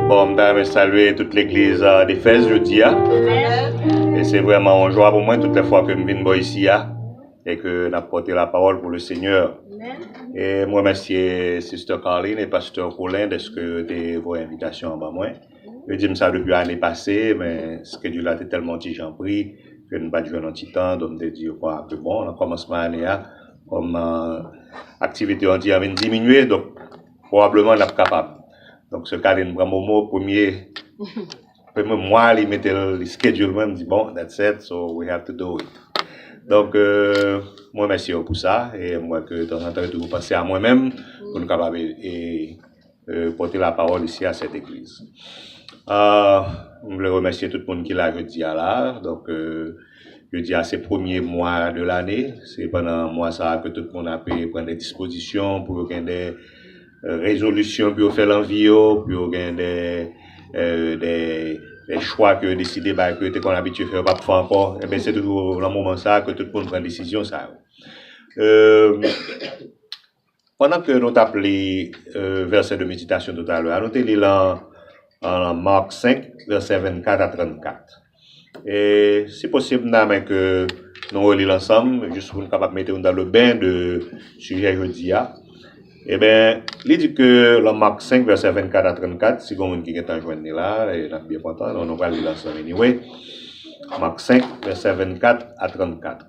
Bon, m ta renmen salye tout legliz defèz jodi a. E se vreman yon jwa pou mwen tout le fwa ke m vin bo isi a. E ke n ap pote la pawol pou le Senyè. E m remesye Sister Carline e Pastor Colin deske yo te voye envitasyon an ban mwen. Yo di m sa depi ane pase, men skedjil la te tèlman ti jan pri ke n pa t jwenn yon ti tan. Donk m te di yo pran a ke bon nan kòmansman ane a, kòm aktivite yo di an vin diminye, donk pwobableman n ap kapab. Donk se kale n pran Momo premye premye mwa li mete l li skedjil mwen, m di bon that said so we have to do it. Donk m remèsye yo pou sa e m wè ke tanzantan yo toujou panse a mwen menm pou nou kapab e. euh, pote la pawòl isi a sèt egliz. Euh, m vle remèsye tout moun ki la jodi a la. Donk, euh, jodi a se premye mwa de lane. Se pandan mwa sa a ke tout moun ape pran de dispozisyon pou yo gen de euh, rezolisyon pou yo fè lan vi yo, pou yo gen de, euh, de, de chwa ke yo deside bay ke yo te konn abitye fè yo pa p fè ankò. Enben, se toujou lan moman sa a ke tout moun pran desizyon sa yo. Euh, Pandan ke nou tap li vèsè de meditasyon toutalè a, nou te li lan Marc 5, vèsè 24 a 34. E si posib m ta renmen ke nou reli l ansanm, jis pou nou kapab mete nou dan le ben de sijè jodi a. Eben, li di ke lan Marc 5, vèsè 24 a 34, si gon moun ki gentan jwenn li la, e nap byen kontan, nou pral li l ansanm anyway. Marc 5, vèsè 24 a 34.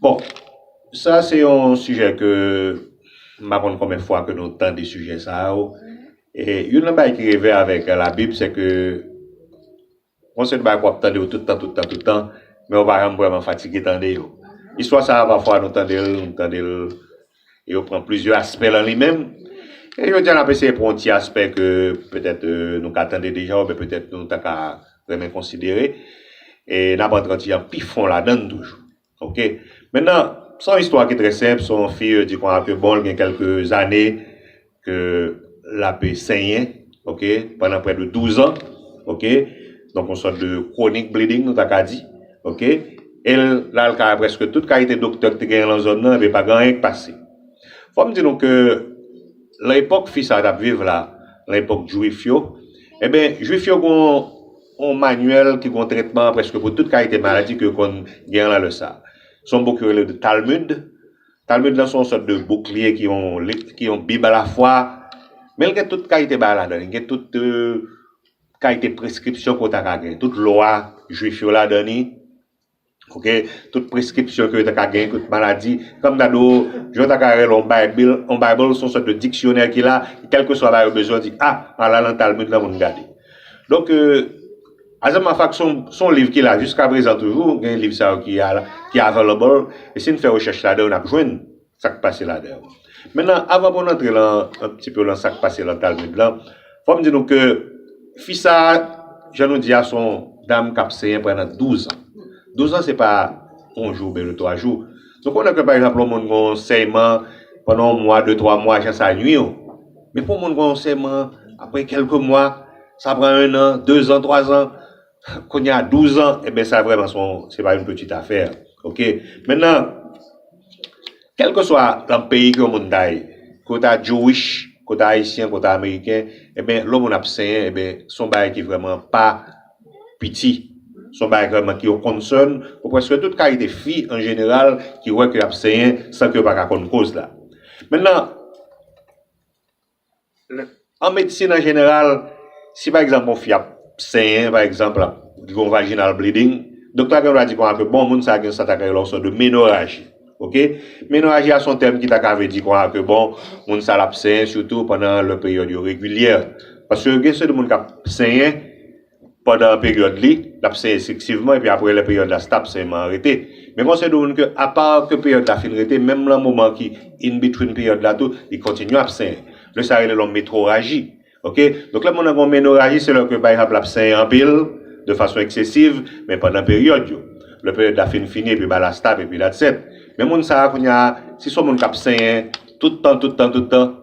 Bon, sa se yon sijè ke m pa konn konben fwa ke nou tande sijè sa yo. E youn nan bagay ki reve avèk labib se ke yon seri de bagay ke w ap tande yo tout tan, tout tan, tout tan, men ou pa janm vrèman fatige tande yo. Istwa sa a pafwa nou tande l, nou tande l. Yo pran plizyè aspè lan li menm. E jodi a n ap eseye pran yon ti aspè ke petèt nou ka tande deja oubyen petèt nou ta ka renmen konsidere. E n ap antre yon ti jan pi fon ladan l toujou. Ok. Mennan, s on istwa ki trè senp sou yon fi, yo di kon a ke bon l gen kèlke zane ke lap senyen ok pandan prè de 12 ans ok donk yon sòt de chronic bleeding nou ta ka di ok el l al kay prèske tout kalite doktè ki te genyen lan zòn nan epi pa gen anyen ki pase fòm di nou ke lan epòk fi sa tap viv la lan epòk jwif yo eben jwif yo gon yon manyèl ki gon tretman prèske pou tout kalite maladi ke yo konn genyen lan lè sa son bouk yo rele de talmud Talmud lan se yon sòt de bouk li ye ki yon liv ki yon bib alafwa, men li gen tout kalite bagay ladan li gen tout kalite preskripsyon ke w ta ka gen, tout lwa jwif yo ladan li ok, tout preskripsyon ke yo ta ka gen, tout maladi fè m gade w jan w ta ka rele yon baybil, yon bible se yon sòt de diksyonè ki la kèlkeswa bagay ou bezwen ou di a ala nan talmud lan pou n gade donk. Azèm Mafak se yon liv ki la jiska prezan toujou, gen liv sa yo ki available e si n fè rechèch ladan yo n ap jwenn sa k pase ladan yo. Mennan avan pou n antre lan an pti peu lan sa k pase lan Talmud lan, fò m di nou ke fi sa a jan nou di a se yon dam k ap senyen pandan douzan. Douzan se pa yon jou oubyen de twa jou. Nou konnen ke pa egzanp lè yon moun gen yon senyeman pandan yon mwa, de twa mwa jan sa nui yo. Men pou yon moun gen yon senyeman apre kèlke mwa. Sa pran 1 an, 2 zan, 3 zan, kounye a 12 zan, eben sa vrèman se yon, se pa yon pitit afè, ok. Mennan, kèlkeswa nan peyi ke yon moun ta ye, ke w ta Jewish, ke w ta Ayisyen, ke w ta Ameriken, eben lè yon moun ap senyen, eben se yon bagay ki vrèman pa piti, se yon bagay vrèman ki yon concern pou prèske tout kalite fi an jeneral ki wè ke y ap senyen san ke yo pa ka konn koz la. Mennan. An medsin an jeneral, si pa egzanp yon fi ap senyen, pa egzanp l ap gen yon vajinal bleding, doktè a gen dwa di kòman ke bon moun sa a gen sa ta ka rele yon sòt de menoraji. Ok. Menoraji a se yon tèm ki ta ka vle di kòman ke bon moun sa l ap senyen sitou pandan lè peryòd yo regilyè. Paske gen seri de moun k ap senyen. pandan peryòd li, l ap senyen selektivman epi aprè lè peryòd la stab senyeman an rete. Men konseye dwe konn ke apa ke peryòd la fin rete menm lan moman ki in between peryòd la tou li kontinye ap senyen. Lè sa rele lon metroraji ok. Donk lè moun nan gen yon menoraji se lè ke pa egzanp l ap senyen anpil de fason eksesiv men pandan peryòd yo. Lè peryòd la fin fini epi ba la stab epi that's it. Men moun sa a kounya si s on moun k ap senyen tout tan tout tan tout tan.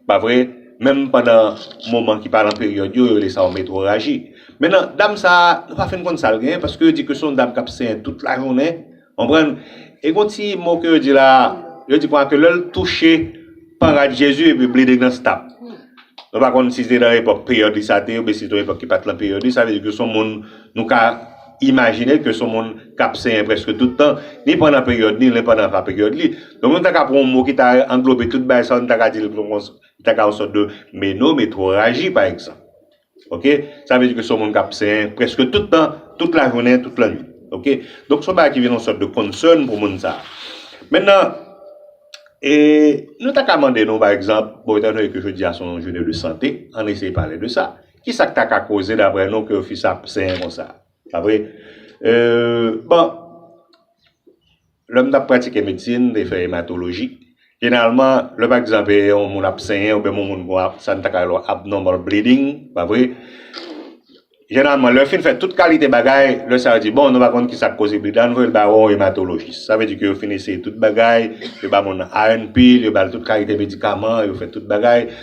Pa vre? Menm pandan moman ki pa lan peryòd yo, yo rele sa yon metroraji. Mennan, dam sa a, nou pa fin konn sa l genyen, paske yo di ke se yon dam k ap senyen tout lajounen, konprann? E gen yon ti mo ke yo di la a, yo di konsa ke lè l touche pan rad Jezi, epi bleeding nan stop. Mwen pa konn si se nan epòk peryòd li sa te oubyen si se te yon epòk ki pa t lan peryòd li, sa vle di ke se yon moun nou ka. Imajine ke son moun k ap senyen prèske tout tan, ni pandan peryòd ni len pandan va peryòd li. Donk nou ta ka pran yon mo ki ta anglobe tout bagay sa yo, nou ta ka di l ta ka yon sòt de menometroraji pa egzanp. Oke, sa vle di ke son moun k ap senyen prèske tout tan, tout lajounen, tout lannwit. Oke, donk son bagay ki vin yon sòt de concern pou moun sa a. Mennan, e nou ta ka mande nou pa egzanp, bon etan done ke jodi a son jounen de sante, ann eseye pale de sa. Ki sa k ta ka koze daprè nou ke fi sa ap senyen konsa? Pa vre? Bon, lè m t ap pratike medsin, m te fè ematoloji. Jeneralman, lè pa egzanp yon moun ap senyen oubyen yon moun gen sa n ta ka rele yon abnormal bleeding, pa vre, jeneralman lè yo fin fè tout kalite bagay, lè sa yo di bon nou pa konn ki sa k koze bleed la, an n voye l ba yon ematolojis. Sa vle di ke yo fin eseye tout bagay, yo ba moun nan INP, yo ba l tout kalite medikaman, yo fè tout bagay.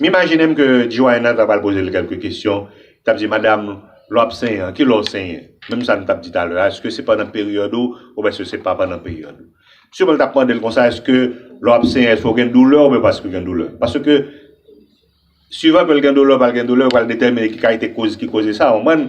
M imajine m ke Joanna ta pral poze l kèlke kesyon, li t ap di, Madam, lè w ap senyen an, ki lè w senyen? Menm sa nou t ap di talè a, èske se pandan peryòd ou oubyen èske se pa pandan peryòd ou? Siman l t ap mande l konsa, èske lè w ap senyen, èske w gen doulè oubyen pa si w gen doulè? Paske, suivan ke l gen doulè ou pa l gen doulè, yo pral detèmine ki kalite koz ki koze sa, w konprann?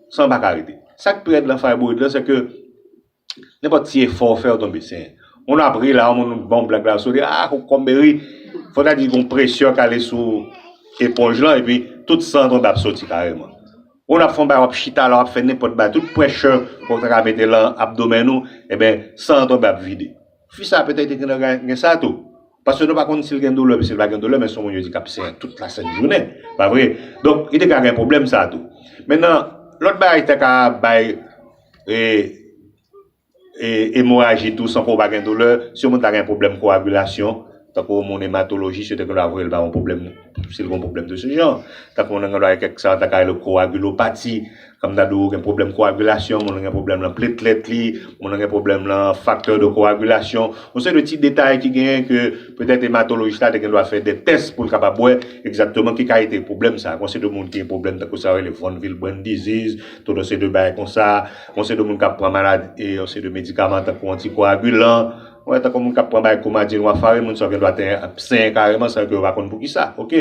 San pa ka rete. Sak pi rèd lan fayboyid lan se ke nenpòt ti efò ou fè ou tonbe senyen. Moun ap ri la, yon moun ba w blag la sou li, ah kokomm e ri. Fò ta di gon presyon k ale sou eponj lan epi tout san an tonbe ap soti kareman. Moun ap fè yon bagay wap chita la wap fè nenpòt bagay tout prèshè ou ta ka mete lan abdomèn ou, eben san an tonbe ap vide. Fi sa petèt te gen nan gen sa tou. Paske nou pa konn si l gen doulè oubyen si l pa gen doulè, men se yon moun yo di k ap senyen tout lasent jounen, pa vre? Donk, li te ka gen pwoblèm sa a tou. Mennan, lòt bagay ki ta ka bay emoraji tou san ke w pa gen doulè, si yon moun ta gen pwoblèm koagilasyon, tankou yon moun ematolojis, yo te gen dwa voye l ba yon pwoblèm, si l gen yon pwoblèm de se jan. Tankou moun nan gen dwa gen kèk sa yo ta ka rele koagilopati. Kòm ta di w gen pwoblèm koagilasyon, moun lan gen pwoblèm lan pletlèt li, moun lan gen pwoblèm lan faktè de koagilasyon. Yon seri de ti detay ki genyen ke petèt ematolojis la te gen dwa fè de tès pou l kapab wè egzakteman ki kalite pwoblèm sa. Gon seri de moun ki gen pwoblèm tankou sa yo rele von Willebrand disease, tout yon seri de bagay konsa. Gon seri de moun k ap pran malad e yon seri de medikaman tankou antikoagilan. Ou wè tankou moun k ap pran bagay koumadin, wafarin, moun sa yo gen dwa te ap senyen kareman san ke yo pa konn poukisa. Ok.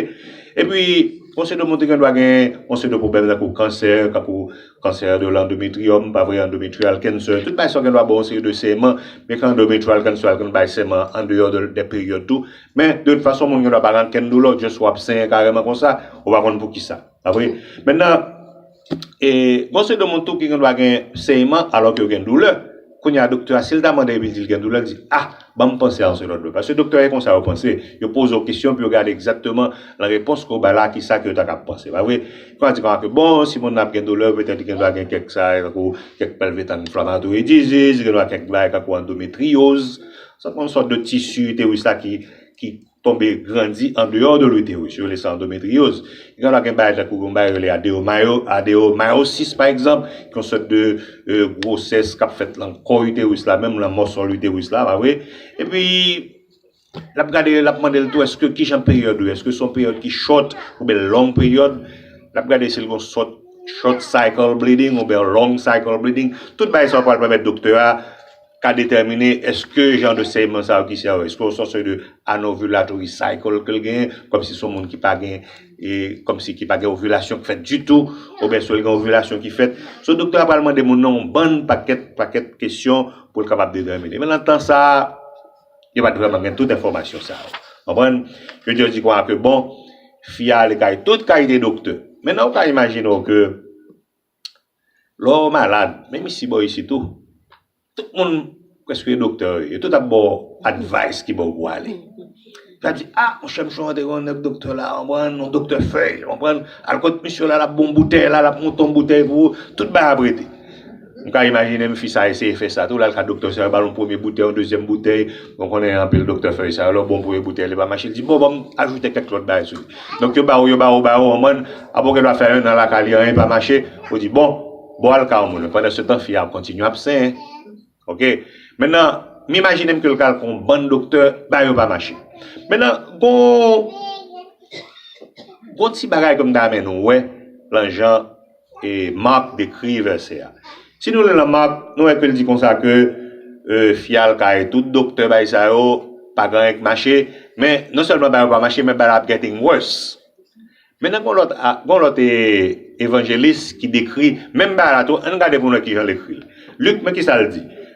Epi. Yon seri de moun te gen dwa gen yon seri de pwoblèm tankou kansè, tankou kansè de l'endometrium, pa vre, endometrial cancer, tout bagay sa yo gen dwa ba w yon seri de seman, byen ke endometrial cancer al konn bay seman an deyò de peryòd tou, men de tout fason moun gen dwa pa gen ankenn doulè, just wap senyen kareman konsa, ou pa konn poukisa, pa vre. Mentnan, E gon seri de moun tou ki gendwa gen senyeman alò ke yo gen doulè. Kounye a doktè a si l ta mande epi l di l gen doulè, l di, a, ban m panse a yon segond. Paske doktè yo e konsa yo panse. Yo poze w kesyon pou yo gade egzakteman nan repons ke w bay la ki sa ke yo ta kab panse. Pa vre? Yo ka di kon sa ke bon, si moun nan ap gen doulè, petèt li gendwa gen kèk sa yo tankou kèk pelvic inflammatory disease, li gendwa kèk bagay tankou andometrioz. Sa se yon sòt de tisi, itérus la ki, ki. tonbe grandi andeyò de l'utérus, yo rele sa andometriyòz, e gen lè gen bagay tankou gen yon bagay yo rele adeyomayo, adeyomayosis pa egzanp, ki yon sòt de gwosès k'ap fèt lan kò utérus la menm, lan mòsò l'utérus la, pa vre? E pi l'ap gade, l'ap mande l' tou èske ki jan peryòd ou ye, èske son peryòd ki short ou byen long peryòd, l'ap gade si l' gon sòt short cycle bleeding ou byen long cycle bleeding, tout bagay sa yo pral pèmèt doktè a. ka detèmine eske jan de sèyman sa yo ki sè yo eske yo son sè de anovulatory cycle ke l genyen kòmsi son moun ki pa gen e kòmsi ki pa gen ovilasyon k fèt ditou oubyen si l gen ovilasyon ki fèt so doktè a pral mande moun nan yon bann pakèt pakèt kesyon pou l kapab detèmine men nan tan sa yo pa t vrèman gen tout enfòmasyon sa yo konprann yo jis di kwa ke bon fi a ale kay tout kalite doktè men nan ou ka imajine w ke. Lè w malad, menm isi bò isit ou, tout moun prèske yo doktè wi, yo tout ap ba w advice ki bò w pou w ale. Yo ap di, a, monchè misye rantre kon nèg doktè la, konprann, yon doktè fèy, konprann, al kot misye la, l ap ba w yon boutèy la, l ap monte yon boutèy pou ou, tout bagay ap rete. M ka imajine m fi sa eseye fè sa tou, l al ka doktè sa, yo ba l yon premye boutèy, yon dezyèm boutèy. Mwen konnen anpil doktè fèy sa yo, lè w bon pou yon boutèy li pa mache, li di bon ban m ajoute kèk lòt bagay sou li. Donk yo ba ou, yo ba ou, ba ou an mòn, apre w gen dwa fè 1 an lakay li anyen pa mache, ou di bon, bon al ka yon moun. Pandansetan fi a ap kontinye ap senyen. Ok, mennan m imajine m ke l ka al ka yon bann doktè, bagay yo pa mache. Mennan gon, gon ti bagay ke m ta renmen nou wè lan jan. E Marc dekri vèsè a. Si nou li nan Marc, nou wè ke l di konsa ke fyal kay tout doktè bay sa yo, pa gen anyen k mache, men non sèlman bagay yo pa mache men bagay la ap getting worse. Men nan gen yon lòt a, gen yon lòt evanjelis ki dekri menm bagay la tou, ann gade pou nou wè kijan l ekri l. Luc, men kisa l di.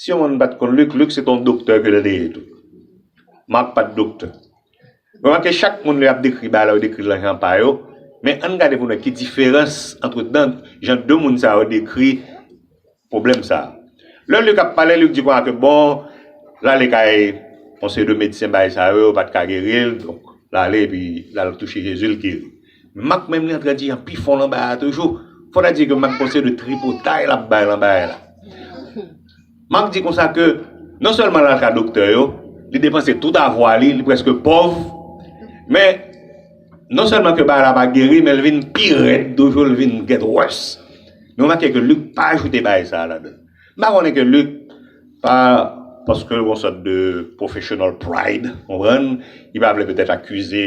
Si yon moun pat konn Luc, Luc se te yon doktè ke l te ye tou. Marc pat doktè. Remake chak moun lè y ap dekri bagay la yo dekri l nan jan pa yo, men ann gade pou n wè ki diferans antre dan jan de moun sa yo dekri pwoblèm sa. Lè Luc ap pale, Luc di konsa ke bon, l ale kay yon seri de medsen bagay sa yo, yo pat ka geri l, donk l ale epi l al touche Jezi l geri. Mak menm li antre di an pi fon lan bagay toujou. Fò ta di ke Mak gon seri de tripotay lap bay lan bagay la. Mak di konsa ke non sèlman lal ka doktè yo, li depanse tout avwa li, li preske pòv, men non sèlman ke bagay la pa geri men li vin pi rèd toujou, li vin get worse. Nou remake ke Luc pa ajoute bagay sa ladann. M pa konnen ke Luc pa paske l gon sòt de professional pride, konprann, li pa vle petèt akize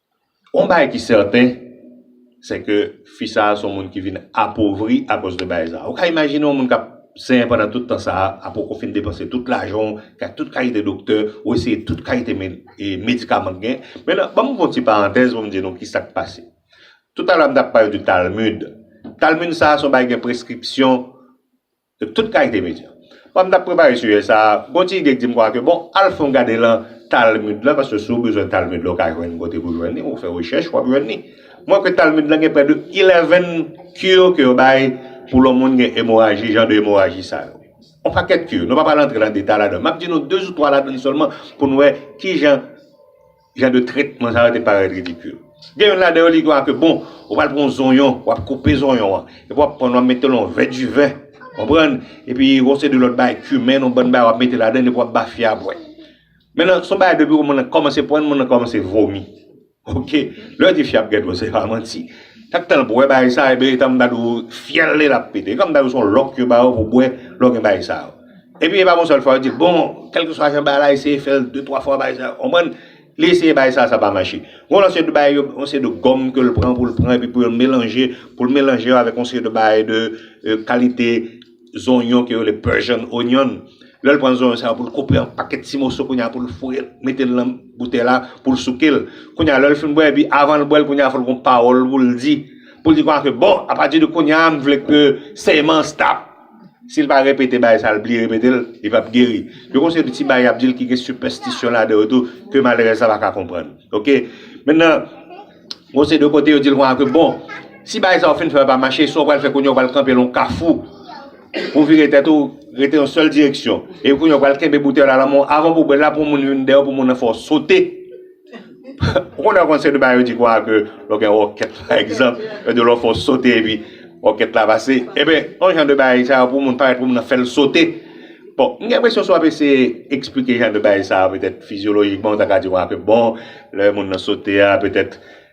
Yon bagay ki sèten, se ke fi sa a se yon moun ki vin apovri akoz de bagay sa a. Ou ka imajine yon moun k ap senyen pandan tout tan sa a, ap poko fin depanse tout lajan w, kay tout kalite doktè, ou eseye tout kalite medikaman ki gen. Men nan, ban m fè yon ti parantèz pou m di nou ki sa k pase. Toutalè a m t ap pale de Talmud. Talmud sa a se yon bagay ki gen preskripsyon. de tout kalite medya. Pandan m t ap prepare sijè sa a, gen yon ti ide ki di m konsa ke bon, al fè yon gade lan Talmud lan, paske si w bezwen Talmud lan, w ka jwenn kote pou w jwenn li, ou fè rechèch, w ap jwenn li. Mwen kwè Talmud lan gen prè de 11 cure ke yo bay pou lè yon moun gen emoraji, jan de emoraji sa yo. Yon pakèt cure. Nou pa pral antre lan detay ladan. M ap di nou 2 ou 3 ladan li sèlman pou nou wè kijan. Jan de tretman sa yo te parèt ridikil. Gen youn ladan yo li di w a ke bon, ou pral pran yon zonyon, w ap koupe zonyon an, epi w ap pran l w ap mete l nan yon vè diven, konprann, epi yon seri de lòt bagay, kimen, yon bann bagay w ap mete ladan l epi w ap ba fi a bwè. Mennan, se yon bagay depi moun nan kòmanse pran l, moun nan kòmanse vomi. Ok. Lè w di fi a ap gen dlo, se pa manti. Chak tan l bwè bagay sa, e byen e tanm ta di w fyèl li l ap pete. E kòm ta di w se yon lòk yo ba w pou w bwè lè w gen bagay sa yo. Epi e pa bon sèl fwa yo di bon kèlkeswa jan bagay la eseye fèl de twa fwa bay sa ou konprann li eseye bay sa sa pa mache gon lòt seri de bagay yo yon seri de gòm ke l pran pou l pran epi pou yo melanje pou l melanje yo avèk yon seri de bagay de kalite zonyon ke yo rele persian onion lè l pran zonyon sa pou l koupe an pakèt ti moso kounye a pou l foure l mete l nan boutèy la pou l souke l kounye a lè l fin bwè epi avan l bwè l kounye a fò l gon pawòl pou l di pou l di kounye a ke bon apati de kounye a m vle ke sèyman an stap. Si l pa repete bagay sa l bliye repete l, li p ap geri. Yo gen yon seri de ti bagay y ap di l ki gen sipèstisyon ladan yo tou ke malerèz la pa ka konprann. Ok. Mennan, gen yon seri de kote yo di l konsa ke bon, si bagay sa ou fin fè a pa mache, sa w pral fè kounye a ou pral kanpe lè yon kafou pou w vire tèt ou, rete yon sèl direksyon. Epi kounye a ou pral kenbe boutèy la nan men w, avan pou w bwè l la pou yon moun vin dèyè w pou moun nan fè w sote. Ou konnen yo konn se de bagay yo di kwa ke lè w gen ròkèt pa egzanp, yo di lè w fè w sote epi ròkèt la pase. Eben, yon jan de bagay sa yo pou moun parèt pou moun nan fè l sote. Bon, m gen enpresyon si w ap eseye eksplike jan de bagay sa yo petèt fizyolojikman ou ta ka di kwa ke bon, lè moun nan sote a petèt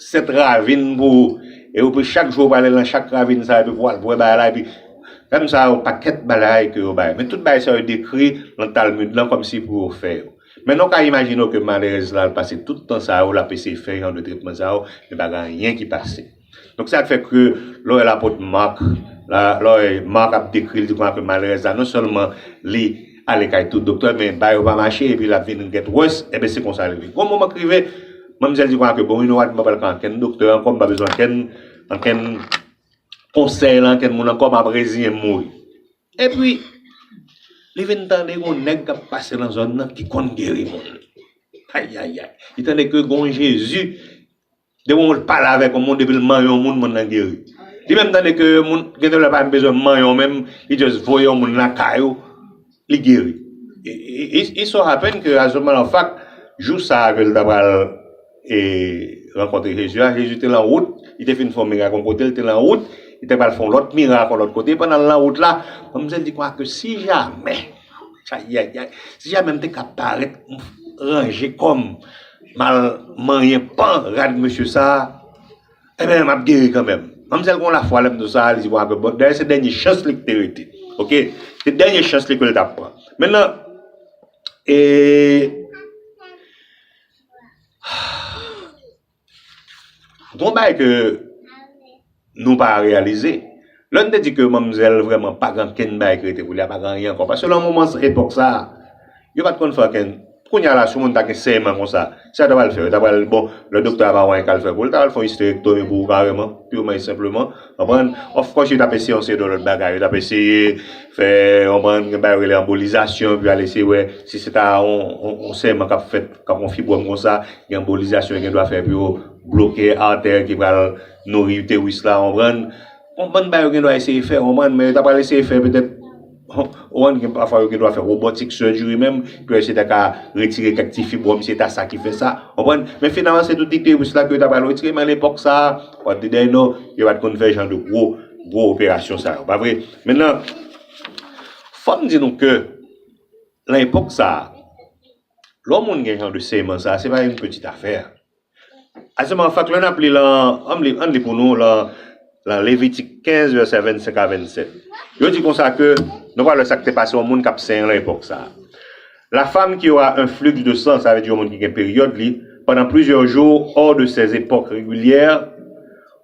7 ravin pou ou e ou pe chak jou ou prale lan chak ravin sa epi pou al pou wè bagay la epi Fèm sa yo pakèt bagay ke yo bay men tout bagay sa yo dekri lan Talmud lan kòmsi pou yo fè yo men nou ka imajine w ke malerèz la al pase tout tan sa yo lap eseye fè jan de tretman sa yo men pa gen anyen ki pase donk sa fè ke lè w wè lapot Marc la lè w wè Marc ap dekri l di konsa ke malerèz la non sèlman li Ale kay tout doktè men bayo pa mache epi lap vin gèt wòs enben se konsa li ye. Gon moman k rive manmzèl di Kwankè bon wi Nowad mwen pa pral ka ankenn doktè ankò mpa bezwen ankenn ankenn konsèy lan ankenn moun ankò map reziyen m mouri. Epi li vin tande gon nèg kap pase nan zòn nan ki konn geri moun. Ayayay li tande ke gon Jezi. Depi yon moun pale avèk yon moun depil manyen yon moun moun nan geri li menm tande ke yon moun gen de lè pa menm bezwen manyen w menm li just voye yon moun lakay ou li geri it so happen ke raisonman an fak jou sa ke l ta pral e rankontre Jezi a Jezi te lan wout li te fin fè yon mirak yon kote li te lan wout li te pral fè yon lòt mirak yon lòt kote pandan l lan wout la manmzèl di kwake si jamè Ayayay si jamè m te ka parèt ranje kòm m al manyen pan rad mesye sa enben m ap geri kanmenm manmzèl gon lafwa lè m di w sa li di bon apre bon dayè se dènye chans li ki te rete ok se dènye chans li ke l t ap pran mennan eee aah. Gon bagay ke nou pa reyalize, lè nou te di ke manmzèl vrèman pa gen ankenn bagay ki rete pou li, pa gen anyen ankò. Paske nan moman sa, epòk sa, yo pa t konn fè ankenn. Kounya la, si yon moun ta gen senyeman konsa, sa yo ta pral fè? Yo ta pral, bon, lè doktè a pa wè anyen k al fè pou li, l ta pral fè yon isterektomi pou ou kareman, pirman e senpleman. Konprann? Of kòs yo t ap eseye yon seri de lòt bagay. Yo t ap eseye fè, konprann, yon bagay yo rele anbolizasyon pou yo al eseye wè si se ta yon senyeman k ap fèt. Kòm yon fibwòm konsa, gen anbolizasyon yo gen dwa fè pou yo bloke artè ki pral nouri itèris la, ou konprann. Yon bann bagay yo gen dwa eseye fè, ou konprann, men yo ta pral eseye fè petèt, ou konprann, gen pafwa yo gen dwa fè robotic surgery menm, pou yo eseye ta ka retire kèk ti fibwòm si se ta sa ki fè sa, ou konprann. Men finalman se tout itèris la ke yo ta pral retire, men alepòk sa a, what did I know, yo pa t konn fè jan de gwo, gwo operasyon sa yo, pa vre? Mennan, fò m di nou ke, lan epòk sa a, Lè w moun gen jan de seyman sa a, se pa youn pitit afè. Aseman an fak, lè n ap li lan, an n li pou nou lan lan Levitik 15 vèsè 25 a 27. Yo di konsa ke, nou pral wè sa k te pase yon moun k ap senyen lan epòk sa a. La femme qui aura un flux de sang, sa vle di yon moun ki gen peryòd li, pendant plusieurs jours hors de ses epoques regulières,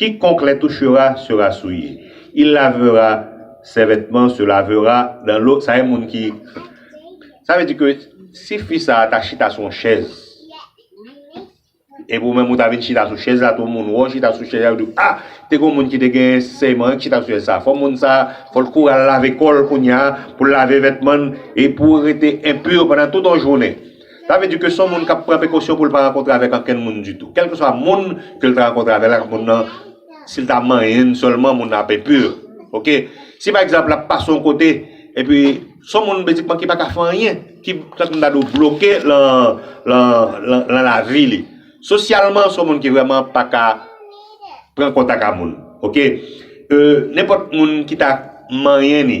Quiconque les touchera sera souillé, il lavera ses vêtements se lavera dans l'eau sa e moun ki sa vle di ke si fi sa ta chita sou yon chèz epi ou menm ou ta vin chita sou chèz la tou moun wè w chita sou chèz la yo di w a te gen yon moun ki te gen sèman ki chita sou chèz sa fò moun sa fò l kouri al lave kò l kounya pou l lave vètman l e pou rete enpur pandan tout yon jounen. Sa vle di ke se yon moun k ap pran prekosyon pou l pa rankontre avèk ankenn moun ditou. Kèlkeswa moun ke l ta rankontre avè l ak moun nan, si l ta manyen l sèlman, moun nan ap enpur. Ok. Si pa egzanp l ap pase yon kote, epi se yon moun bezikman ki pa ka fè anyen, ki tank m ta di w bloke lan, lan, lan, lan lavi li. Sosyalman se yon moun ki vrèman pa ka pran kontak a moun. Ok. Euh, nenpòt moun ki ta manyen li.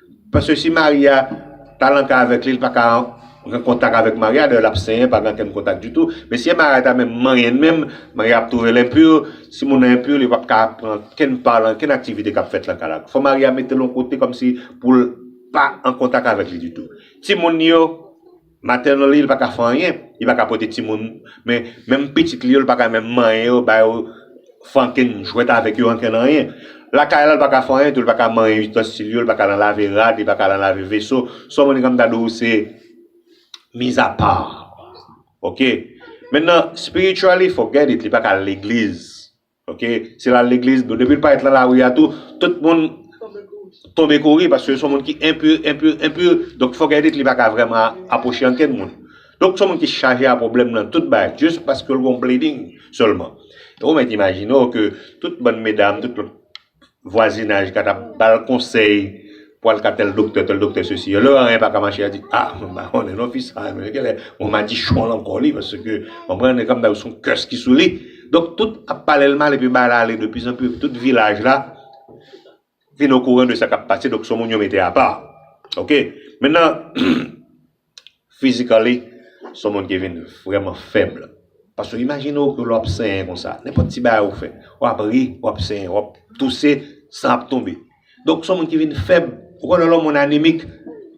Paske si Maria ta lan kay avèk li li paka gen kontak avèk Maria dayè lap senyen pa gen ankenn kontak ditou men si Maria ta menm manyen menm Maria ap trouvel enpur si moun nan enpur li pap ka pran ankenn pa lan ankenn aktivite kap fèt lan kay la fò Maria metel yon kote kòmsi poul pa an kontak avèk li ditou timoun yo Maternally li paka fè anyen, li paka pote timoun men menm pitit li yo li paka menm manyen yo ba yo fanken jwèt avèk yo anken nan anyen. Lakay la li paka fè anyen tou li paka manyen istansil yo li paka lan lave rad li paka lan lave veso so Monica m ta di w se mizapa ok. Mentnan spiritually forget it li paka al legliz. Ok si lal legliz bon depil pa et lan lari a tou tout moun tonbe kouri paske son moun ki enpur enpur enpur donk fòk edit li paka vrèman aproche ankenn moun donk son moun ki chaje a problèm nan tout bagay just paskeu l gon bleeding sèlman ou mèt imajine w keu tout bann medam tout vwazinaj ka ta ba l konsèy pou al ka tèl doktè, tèl doktè sesi. Lè anyen pa ka mache, a di, a, m pa konnen non fi sa a menm. Gen lè yon madichon l ankò li paske, konprann, e kòmdab se yon kès ki sou li. Donk, tout ap pale l mal epi bagay la ale de pi zan pi, epi tout vilaj la vin okouran de sa k ap pase. Donk, se yon moun yo mete apa. Oke. Mentnan, Physically, se yon moun ki vin vrèman fèb. Paske imajine w ke lè w ap senyen konsa, nenpòt ti bagay ou fè, w ap ri, w ap senyen, w ap touse, san ap tonbe. Donk se yon moun ki vin fèb. Ou konnen lè yon moun anemik,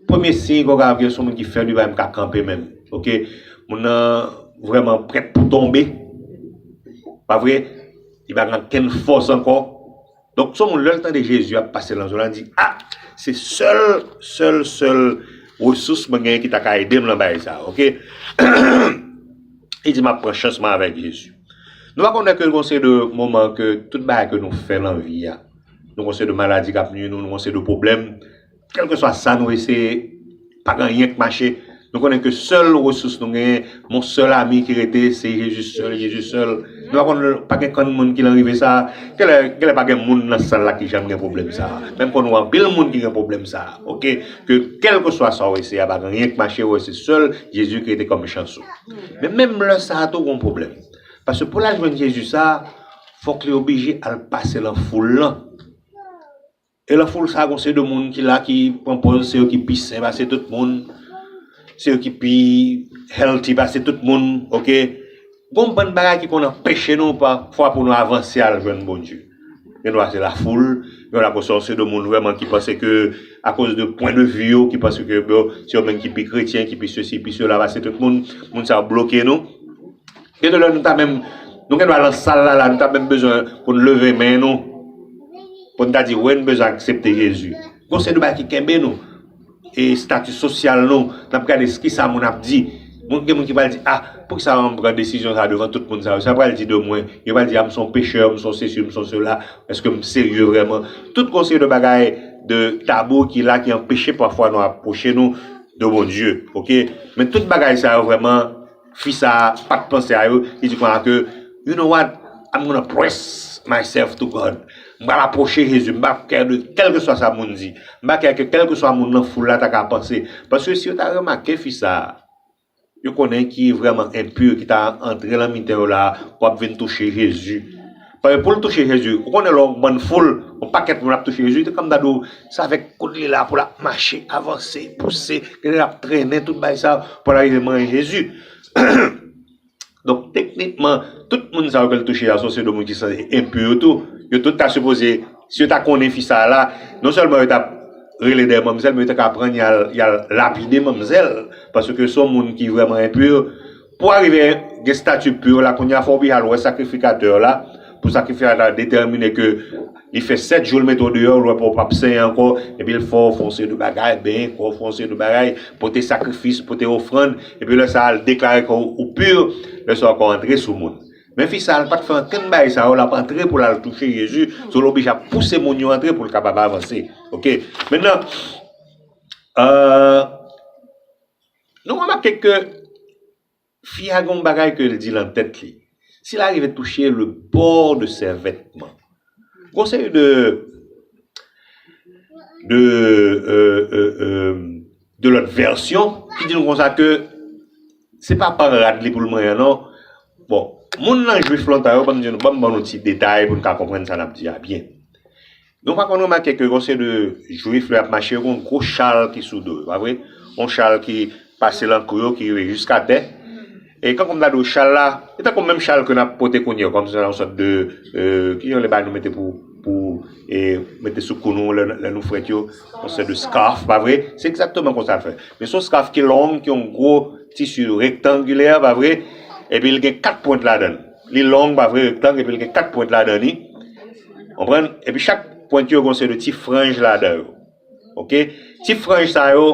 premye siy ke w ka avè se yon moun ki fèb, li pa menm ka kanpe menm. Ok. Moun nan vrèman prèt pou tonbe. Pa vre? Li pa gen ankenn fòs ankò. Donk son moun lèl tande Jezi ap pase lan zòn lan li di ah se sèl sèl sèl resous mwen genyen ki ta ka edem lan bagay sa ok li di map pran chans mwen avèk Jezi. Nou pa konnen ke gon seri de moman ke tout bagay ke nou fè lan vi a nou gon seri de maladi kap nui nou nou gon seri de pwoblèm Kèlkeswa sa nou eseye, pa gen anyen k mache. Nou konnen ke sèl resous nou genyen, mon sèl ami ki rete, se Jezi sèl, Jezi sèl. Nou pa konn, pa gen konn moun ki lan rive sa a. Genlè, genlè pa gen moun lan sal la ki janm gen pwoblèm sa a. Men m konnen anpil moun ki gen pwoblèm sa a, ok. Ke kèlkeswa sa w eseye a, pa gen anyen k mache, wè se sèl Jezi ki rete kòm chans ou. Men menm lè sa a tou gon pwoblèm. Paske pou l al jwenn Jezi sa a, fòk li oblije al pase lan foul lan. E lan foul sa gon se de moun ki la ki pran pòz se yo ki pi sen pase tout moun, se yo ki pi healthy pase tout moun ok. Gon bann bagay ki konn anpeche nou pa fwa pou nou avanse al jwenn Bondye. Gen dwa se la foul, gen dwa se yon se de moun vrèman ki panse ke a koz de pwen de vi yo ki panse ke bon se yo menm ki pi kretyen ki pi sesi pi sela pase tout moun, moun sa yo bloke nou. Gen de lè nou ta menm, nou gen dwa lan sal la la, nou ta menm bezwen pou n leve men nou, pou n ta di wi n bezwen aksepte Jezi. Gen yon seri de bagay ki kenbe nou, estati sosyal nou, n ap gade ki sa moun ap di. Moun gen moun ki pral di, a, pou ki sa an m pran desizyon sa a devan tout moun sa yo, sa yo pral di de mwen, yo pral di a m son pechè, m son sesi, m son sela, èske m serye vrèman. Tout gen yon seri de bagay, de tabou ki la ki anpeche pafwa nou apwoche nou de Bondye, oke. Men tout bagay sa yo vrèman. Fi sa pat panse a yo, li di konsa ke, You know what, I'm gonna press myself to God. M pral apwoche Jezi, m pa kè de kèlkeswa sa moun di. M pa kè ke kèlkeswa moun nan foul la ta ka panse. Paske si yo ta remake fi sa, yo konnen ki vrèman enpur ki ta antre lan mitan yo la pou ap vin touche Jezi. Paske poul touche jezi ou konnen lè yon bann foul yon pakèt moun ap touche jezi se kòm ta diw se avèk kout li la poul ap mache avanse pouse genlè lap trennen tout bagay sa poul arive manyen jezi donk teknikman tout moun sa yo kel touche a se yon seri de moun ki sanze enpu yo tou yo tout ta sipoze si yo ta konnen fi sa la non sèlman yo tap rele dèyè manmzèl men yo ta ka pran yal lapide manmzèl paske se yon moun ki vrèman enpu. Pou arive gen stati pu yo la kounye a fò w pi al wè sakrifikatè w la pou sakrifikatè la detèmine ke li fè 7 jou l mete w deyò l wè pou w pap senyen ankò epi l fè w fon seri de bagay benyen kò w fon seri de bagay pote sakrifis pote ofrann epi lè sa a l deklare ke w pu lè sa a w ka antre sou moun men fi sa a l pat fè ankenn bagay sa yo l ap antre pou l al touche Jezi sou l oblije ap pouse moun yo antre pou l kapab avanse ok mennan ahh. Nou remake ke fi a gen yon bagay ke l di lan tèt li. Si l arive touche le bord de ses vêtements, gen yon seri de, de, e, e, e, de lòt vèsyon ki di nou konsa ke se pa pan rad li pou l manyen non. Bon, moun lan jwif lontan yo, banm di nou, banm ban nou ti detay pou n ka konprann sa n ap di a byen. Nou pa konn remake ke yon seri de Jwif lè y ap mache yo gen yon gwo chal ki sou do yo, pa vre? Yon chal ki pase lan kou yo, ki rive jiskatè. E kankou m ta di w, chal la, li tankou menm chal ke n ap pote kounye yo, kòm si se yon sòt de, ki jan yo rele bagay nou mete pou, pou e mete sou kou nou lè nou frèt yo, yon sòt de scarf, pa vre? Se egzakteman konsa l fè. Men se yon scarf ki long, ki yon gwo tisi rektangilè, pa vre? Epi l gen kat pwent ladan l. Li long pa vre rektang epi li gen 4 pwent ladan li. Konprann? Epi chak pwent yo gen yon seri de ti franj ladan yo. Ok? Ti franj sa yo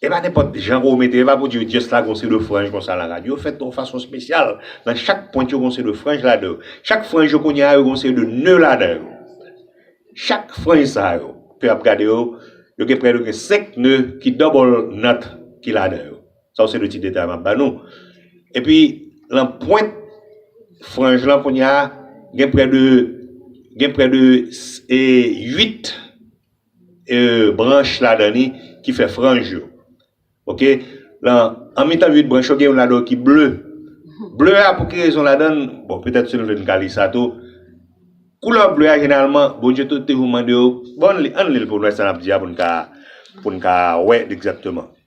e pa nenpòt jan pou ou mete, e pa pou di yo just la gen yon seri de franj konsa la kad. Yo fèt yon fason spesyal. Nan chak pwent yo gen yon seri de franj ladan yo. Chak franj yo kounye a yo gen yon seri de neu ladan yo. Chak franj sa yo ke ap gade yo, yo gen prè de gen 5 neu ki double knot ki ladan yo. Sa yo se de tit detail map ba nou. Epi lan pwent franj lan kounya gen prè de gen prè de 8 branch ladan li ki fè franj yo. Ok lan an mitan 8 branch yo gen youn ladan yo ki ble. Ble a pou ki rezon ladan, bon petèt si nou vle nou ka li sa tou. Koulè ble a jeneralman Bondye te toujou mande yo, bon ann li l pou nou wè sa nap di a pou nou ka pou nou ka wè egzakteman.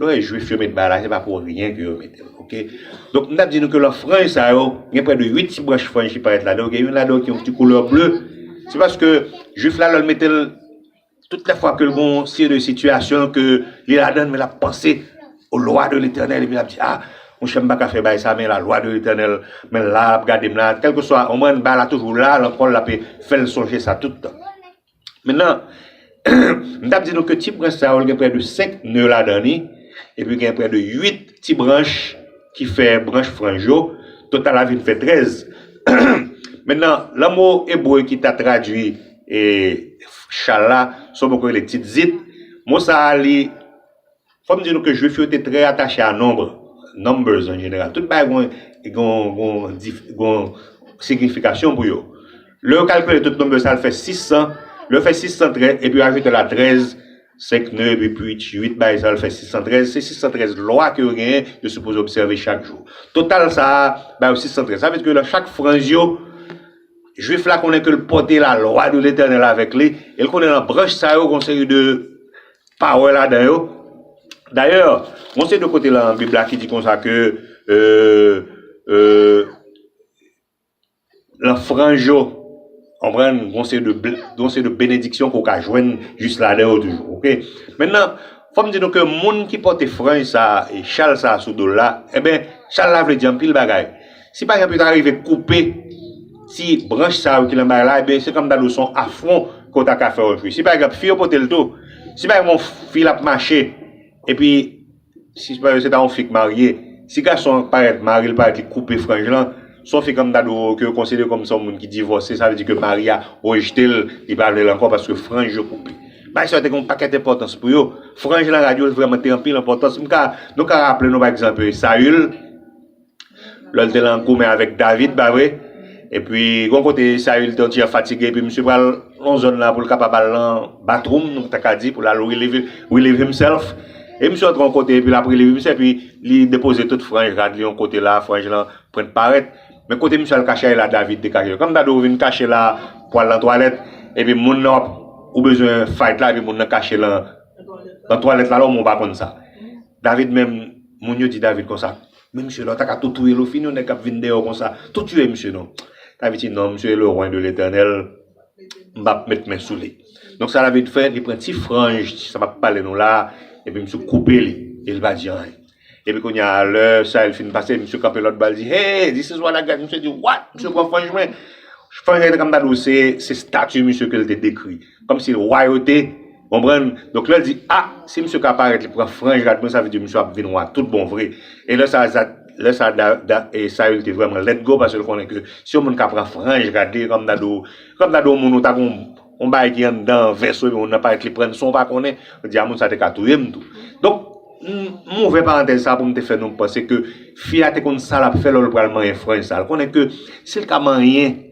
Lè w wè jwif yo met ba la se pa pou ryen ke yo mete l ok. Donk m ta di nou ke lan franj sa yo gen prè de 8 ti branch franj ki parèt ladan yo gen youn ladan yo ki gen yon ti koulè ble se paske jwif la lè l mete l tout lè fwa ke l gon se de sitiyasyon ke li ladan l men l ap panse o lwa de letènèl epi l ap di a monchè m pa ka fè bagay sa men la lwa de letènèl men la l ap gade m la kèlkeswa konprann ba la toujou la lan kò l l ape fè l sonje sa tout tan. Mentnan, m t ap di nou ke ti branch sa yo l gen prè de 5 neu ladan li, epi gen prè de 8 ti branch ki fè branch franj yo, total la vin fè 13. Mentnan, lan mo ebre ki ta tradui chal la, se yon mo ki rele tzitzit, mo sa a li. Fò m di nou ke Jwif yo te trè atache a nonb, numbers an jeneral. Tout bagay gwen gwen gwen dif gwen signifikasyon pou yo. Lè yo kalkile tout numbers sa al fè 600, lè yo fè 600 trè epi yo ajoute la 13, 5 nè epi pwit 8 bagay sa al fè 613, se 613 lwa ke yo genyen yo sipoze obsève chak jou. Total sa a ba yo 613. Sa vle di ke nan chak franj yo, Jwif la konnen ke l pòte la lwa de Letènèl avèk li e l konnen nan branch sa yo gwen yon seri de Pawè ladan yo. Dayè, gon seri de kote lan Bib la ki di konsa ke lan franj yo, konprann, gon seri de bl, gon seri de benediksyon ke w ka jwenn jis ladan yo toujou. Ok. Mennan, fò m di nou ke moun ki pòte franj sa a, e chal sa a sou do l la, enben, chal la vle di anpil bagay. Si pa egzanp yo ta rive koupe ti branch sa yo ki lan bay la, enben se kòm ta di w se yon afwon ke w ta ka fè otri. Si pa egzanp fi yo pote l tou, si pa egzanp yon fi l ap mache, epi si pa egzanp se ta yon fi k marye, si gason an parèt, mari l parèt li koupe franj lan, se yon fi kòm ta di w ke yo konsidere kòm se yon moun ki divòse, sa vle di ke mari a rejte l, li pa vle l ankò paske franj yo koupe. Bagay sa yo te gen yon pakèt enpòtans pou yo. Franj lan radyo l vrèman te anpil enpòtans. M ka, nou ka raple nou pa egzanp Sayil. Lè l te lan goumen avèk David pa vre? Epi gon kote Saül te yon ti jan fatige epi misye pral yon zòn la pou l kapab al lan bathroom nou ta ka di pou l al relieve relieve himself e misye antre yon kote epi l ap relieve misye epi li depoze tout franj rad li yon kote la franj lan pret parèt men kote misye al kache la David te kache kòm ta di w vin kache la pou al lan twalèt epi moun nan w ap ou bezwen fight la epi moun nan kache lan lan twalèt la lò moun pa konn sa David menm moun yo di David konsa. Men misye la ou ta ka tou touyel ou fini yon nèg kap vin dèyèw konsa tou tiye misye non Avicii non misye e loin de l'eternel m pap met men sou li donk sa David fè li pran ti franj ti sa map pale nou la epi misye koupe li e li pa di anyen epi kounya lè Saül fin pase misye kanpe lòt bò li di hey this is what I got misye di what misye pran franj mwen franj la te ka m ta di w se se stati misye ke l te dekri kòmsi l wayote Konprann? Donk lè l di, A! Si misye ka parèt, li pran franj rad mwen, sa vle di misye ap vin wa tout bon vre. E lè sa a, lè sa a Da, e Sayil te vrèman let go paske l konnen ke si yon moun ka pran franj rad li, e kòm nan do, kòm nan do yon moun ou ta gen yon bagay ki anndan vès ou ebyen moun nan parèt li pran l san w pa konnen, l di a moun sa a te ka touye m tou. Donk, m ouvè parantèz sa a pou m te fè nou panse ke fi a te konn sa l ap fè lò l pral manyen franj sa a. L konnen ke si l ka manyen.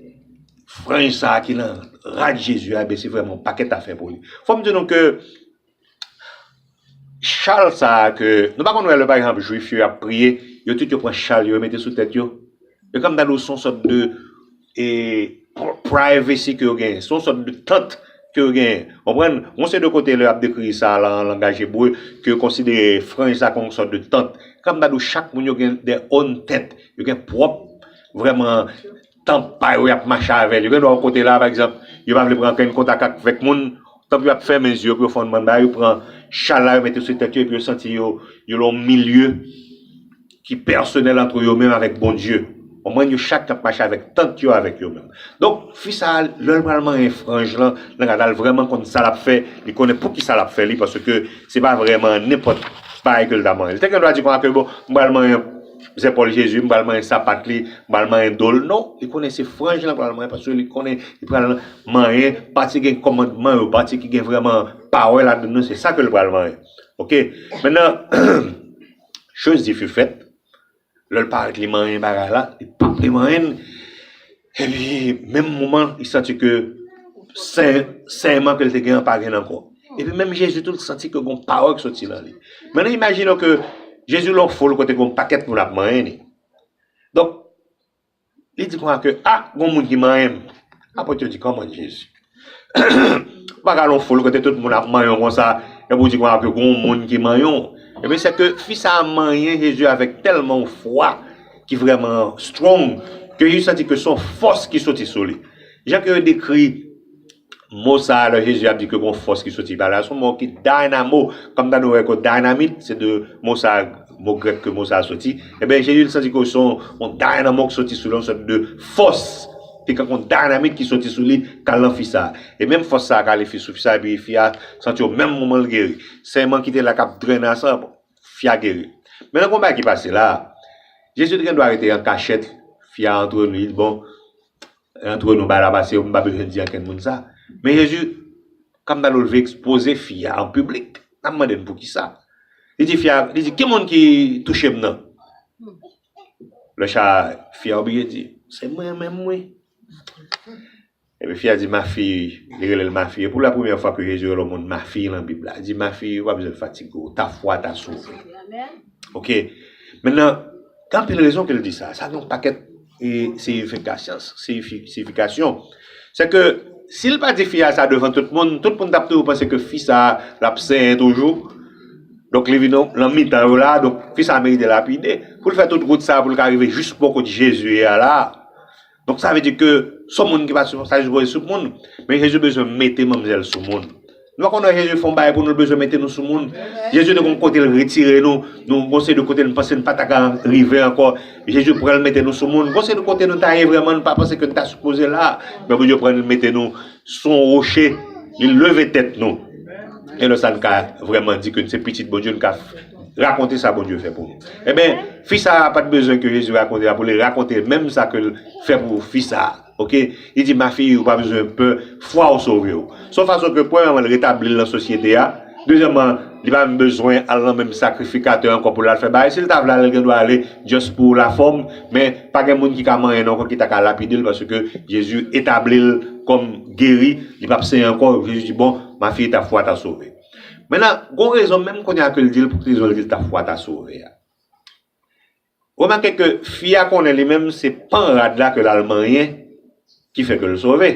Franj sa ki nan rad Jezi a ebyen se vrèman yon pakèt afè pou li. Fò m di nou ke chal sa ke, nou pa konn wè lè pa egzanp jwif yo ap priye, yo tout yo pran chal yo mete sou tèt yo? E kòm ta di w se yon sòt de e privacy ke yo genyen, se yon sòt de tant ke yo genyen. Konprann? Gon seri de kote lè y ap dekri sa lan langaj ebre ke yo konsidere franj sa kòm yon sòt de tant. Kòm ta di w chak moun yo gen their own tent, yo gen pwòp vrèman Tanp pa yo yap mache avèl yo gen dwa yon kote la pa egzanp yo pa vle pran ankenn kontak ak vèk moun tanp yo ap fèmen zye yo pou yo fè yon bann bagay yo pran chal la yo mete sou tèt yo epi yo santi yo yo lan yon milye ki pèsonèl antre yo menm avèk Bondye konprann yo chak ap mache avèk tant yo avèk yo menm donk fi sa lèl pral manyen franj lan nan gad la l vrèman konn sa lap fè li konnen poukisa lap fè li paske se pa vrèman nenpòt bagay ke l ta manyen li te gen dwa di konsa ke bon m pral manyen Zè pòl Jezi m pral manyen sapat li, m pral manyen do l. Non, li konnen se franj lan pral manyen paske li konnen li pral manyen pati ki gen kòmandman yo, pati ki gen vrèman pawè ladann yo, se sa ke l pral manyen. Ok, mennan, choz di fi fèt, lè l parèt li manyen bagay la, li pap vle manyen l. Epi menm moman li santi ke senyeman ke li te gen an pa gen l ankò. Epi menm Jezi tou li santi ke gon pawòl ki soti nan li. Men nou imajine w ke Jezi lè w foul kote gon pakèt moun ap manyen li. Donk li di konsa ke a gon moun ki manyen m. Apot yo di kòman Jezi? Ou pa ka al yon foul kote tout moun ap manyon konsa, epi ou di konsa ke gon moun ki manyon. Ebyen se ke fi sa a manyen Jezi avèk tèlman yon fwa ki vrèman strong, ke Jezi santi ke son fòs ki soti sou li. Jan ke yo dekri mo sa a lè Jezi ap di ke gon fòs ki soti ba li a, son mo ki dynamo, kòm ta nou wè ke dynamit, se de mo sa a, mo grèk ke mo sa a soti. Ebyen Jezi li santi ke son yon dynamo ki soti sou li, yon sòt de fòs. Te gen yon dynamite ki soti sou li kal nan fi sa. E menm fòs sa kale fi sou fi sa epi fi a santi yo menm moman l geri. Sèman ki te la kap drene a san fi a geri. Men nan konba ki pase la, Jezi te gen dwa rete an kachèt fi a antre li di bon e antre nou bagay la pase m pa bezwen di ankenn moun sa. Men Jezi kam ta dou l vle ekspoze fi a an piblik. Nap mande n poukisa. Li di fi a li di ki moun ki touche m nan? Lè cha a, fi a oblije di, Se mwen menm wi. Epi fi a di, Ma fille, li rele l ma fille. Pou la premyè fwa ke Jezi rele yon moun ma fille lan Bib la. Li di, Ma fille, ou pa bezwen fatige w. Ta fwa t'a sove w. Ok. Mennen, gen anpil rezon ke l di sa. Sa gen yon pakèt siyifikasyans, siyifikasyon. Se ke, si l pa di fi a sa devan tout moun, tout moun t'ap toujou panse ke fi sa a, l'ap senyen toujou. Donk li vin nan mitan yo la a, donk fi sa a merite lapide. Pou l fè tout wout sa a pou l ka rive jis bò kot Jezi ye a la a. Donk sa vle di ke son moun ki pa ta sipoze sou moun, men Jezi bezwen mete manmzèl sou moun. Nou pa konn wè Jezi fè yon bagay pou nou l bezwen mete nou sou moun. Jezi te gen yon kote l retire nou, nou gen yon seri de kote nou panse nou pa ta ka rive ankò, Jezi pran l mete nou sou moun. Gen yon seri de kote nou ta ye vrèman nou pa panse ke nou ta sipoze la a, men Bondye pran nou mete nou. Sou yon woche, li leve tèt nou. E lè sa n ka vrèman di ke n se pitit Bondye, n ka rakonte sa Bondye fè pou nou. Enben, fi sa a pa t bezwen ke Jezi rakonte a pou li rakonte l menm sa ke l fè pou fi sa a. Oke, li di, Ma fille, ou pa bezwen pè, fwa w sove w. S on fason ke premyèman l retabli l nan sosyete a. Dezyèman, li pa menm bezwen al nan menm sakrifikatè ankò pou l al fè bagay. Si l ta vle ale, l gen dwa ale just pou lafòm, men pa gen moun ki ka manyen l ankò ki ta ka lapide l paske Jezi etabli l kòm geri, li p ap senyen ankò. Jezi di, Bon, ma fille, ta fwa t'a sove. Mennen, gon rezon menm kounye a ke l di l pou ki rezon l di l ta fwa t'a sove a. Remake ke fi a konnen li menm se pan rad la ke l'al manyen ki fè ke l' sove.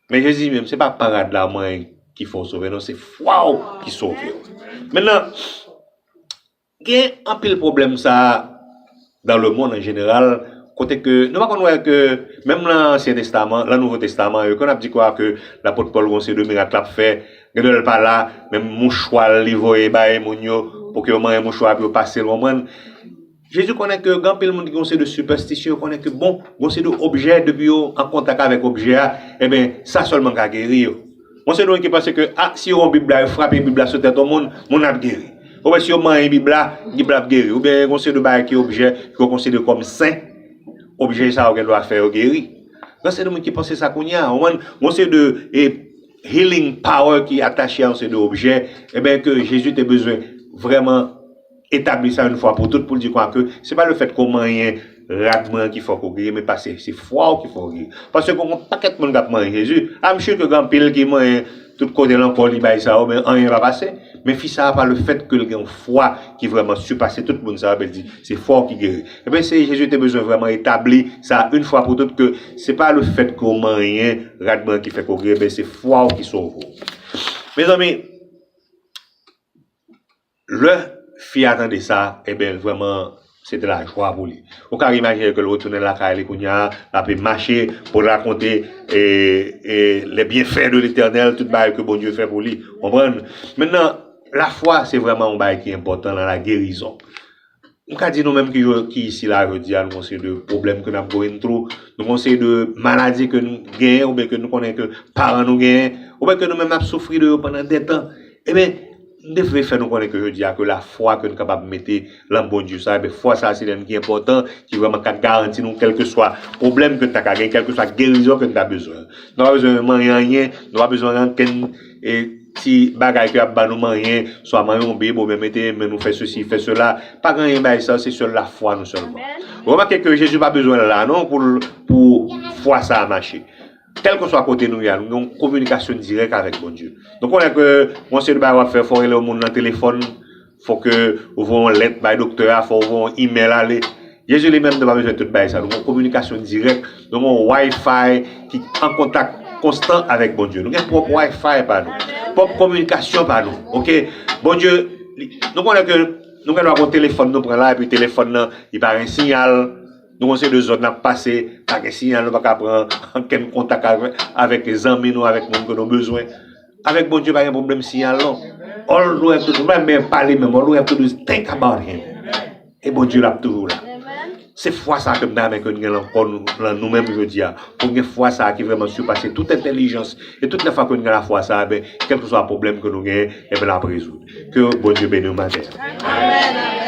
Men Jezi di menm se pa pan rad la manyen ki fè w' sove non, se fwa w' ki sove w'. Mennan, gen anpil pwoblèm sa a dan le monn an jeneral kote ke nou pa konn wè ke menm lan ansyen testaman, lan nouvo testaman yo ke n'ap di kwa ke lapot Pòl gon seri de mirak l'ap fè, Gadon lè l pa la menm mouchwa l li voye bay moun yo pou ke yo manyen mouchwa a pou yo pase l konprann. Jezi konnen ke gen anpil moun ki gen yon seri de sipèstisyon yo konnen ke bon gen yon seri de objè depi yo an kontak avèk objè a enben sa sèlman ka geri yo. Gen yon seri de moun ki panse ke a si yo wè yon bib la yo frape bib la sou tèt yon moun, moun nan ap geri. Oubyen si yo manyen bib la, bib la ap geri. Oubyen gen yon seri de bagay ki objè ke yo konsidere kòm sen, objè sa yo gen dwa fè yo geri. Gen yon seri de moun ki panse sa kounye a, konprann. Gen yon seri de healing power ki atache a yon seri de objè, eben ke Jezi te bezwen vrèman etabli sa yon fwa pou tout pou l di kwa ke se pa lefèt ke w manyen rad mwen an ki fè w geri men pase se fwa w ki fè w geri. Paske gen yon pakèt moun k ap manyen Jezi, I'm sure ke gen anpil ki manyen tout kote lan kò li bay sa yo men anyen pa pase. Men fi sa a pa lefèt ke l gen yon fwa ki vrèman sipase tout moun sa yo, men l di, Se fòw ki geri. Ebyen se Jezi te bezwen vrèman etabli sa yn fwa pou tout ke se pa le fèt ke w manyen rad mwen an ki fè ke w geri ebyen se fwa w ki sove w. Mezanmi lè fi a tande sa ebyen l vrèman se te lajwa pou li. Ou ka imajine ke l retounen lakay li kounya l ape mache pou l rakonte les bienfaits de l'Eternel tout bagay ke Bondye fè pou li. Konprann? Mentnan Lafwa se vrèman yon bagay ki enpòtan nan lagerizon. M ka di nou menm ki yo ki isi la jodi a nou gen yon seri de pwoblèm ke n ap going through, nou gen yon seri de maladi ke nou genyen oubyen ke nou konnen ke paran nou genyen, oubyen ke nou menm n ap soufri de yo pandan detan. Eben, m te vle fè nou konnen ke jodi a ke lafwa ke nou kapab mete lan Bondye sa, eben fwa sa se len ki enpòtan, ki vrèman ka garanti nou kèlkeswa pwoblèm ke n ta ka genyen, kèlkeswa gerizon ke n ta bezwen. Nou pa bezwen manyen anyen, nou pa bezwen rankin. E ti bagay ke ap ba nou manyen, swa manyen yon bib oubyen mete men nou fè sesi, fè sela, pa gen anyen bay sa, se sèl lafwa nou sèlman. Remake ke Jezi pa bezwen la non pou l pou fwa sa a mache. Kèlkeswa kote nou ye a, nou gen yon kominikasyon dirèk avèk Bondye. Nou konnen ke yon seri de bagay w ap fè, fò w rele yon moun nan telefòn, Fò ke ou voye yon lèt bay doktè a, fò ou voye yon email ale. Jezi li menm te pa bezwen tout bagay sa. Nou gen yon kominikasyon dirèk, nou gen yon Wi-Fi ki an kontak konstan avèk Bondye. Nou gen pwòp Wi-Fi pa nou, pwòp kominikasyon pa nou. Ok, Bondye, nou konnen ke nou gen dwa gen yon telefòn nou pran la epi telefòn nan li pa gen siyal, nou gen yon seri de zòn nap pase, pa gen siyal nou pa ka pran ankenn kontak avèk zanmi nou, avèk moun ke nou bezwen. Avèk Bondye pa gen pwoblèm siyal non. All nou have to do, pa menm pale menm, all nou have to do is think about him. E Bondye lap toujou la. Se fwa sa ke m ta renmen ke nou gen lan kò nou, lan nou menm jodi a. Pou gen fwa sa ki vrèman sipase tout entèlijans. E tout lè fwa ke nou gen la fwa sa, ben, kèlkeswa pwoblèm ke nou genyen, enben lap rezoud. Ke Bondye beni nou maten an.